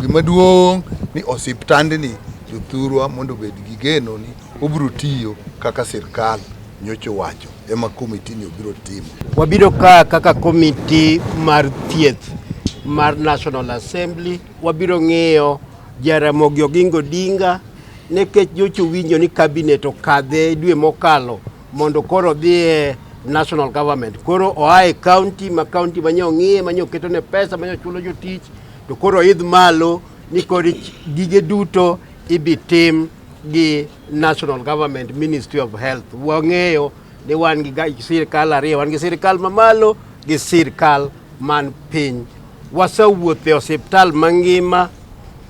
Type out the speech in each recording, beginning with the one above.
Gima duong' ni osiptandni jothurwa mondo obed gi geno ni obiro tiyo kaka sirkal nyocha owacho ema komitini obiro timo. Wabiro ka kaka komiti mar thieth mar National Assembly wabiro ng'iyo Jaramogi Oginga Odinga nikech nyocha owinjo ni cabinet okadhe dwe mokalo mondo koro odhi e national government koro oa e county ma county manye ong'iye manye oketone pesa manye ochulo jotich To koro idh malo ni kod gige duto ibi tim gi National Government Ministry of Health. Wang'eyo ni wan gi sirkal ariyo, wan gi sirkal mamalo gi sirkal man piny. Wasewuotho e osiptal mangima,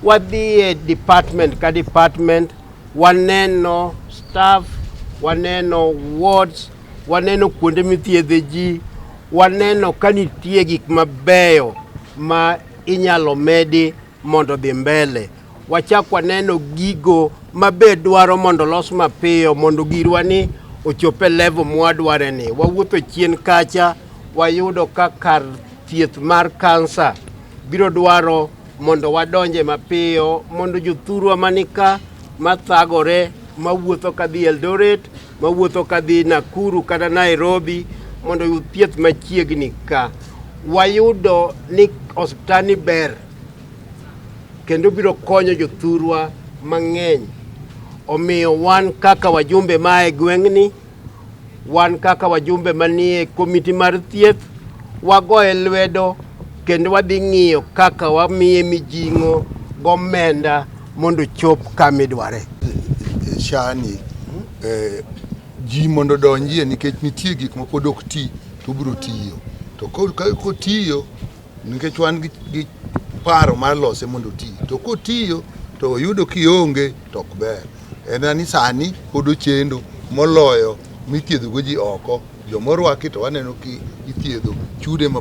wadhi e department ka department, waneno staff, waneno wards, waneno kuonde mithiedhe ji, waneno ka nitie gik mabeyo ma inyalo medi mondo dhi mbele wachak waneno gigo mabe dwaro mondo los mapiyo mondo girwa ni ochope level mwadware ni wawuotho chien kacha wayudo ka kar thieth mar kansa biro dwaro mondo wadonje mapiyo mondo jothurwa manika mathagore mawuotho kadhi Eldoret mawuotho kadhi Nakuru kata Nairobi mondo oyud thieth machiegni ka. Wayudo ni osiptandni ber kendo biro konyo jothurwa mang'eny. Omiyo wan kaka wajumbe ma e gweng'ni, wan kaka wajumbe manie komiti mar thieth, wagoye lwedo kendo wadhi ng'iyo kaka wamiye mijing'o gomenda mondo chop kama idware. Shani eh, ji mondo odonjie nikech nitie gik ma pod ok ti to biro tiyo to kotiyo nikech wan gi paro mar lose mondo oti to kotiyo to oyudo kionge to ok ber en ni sani pod ochendo moloyo mithiedhogo ji oko jomorwaki to waneno ki ithiedho chude ma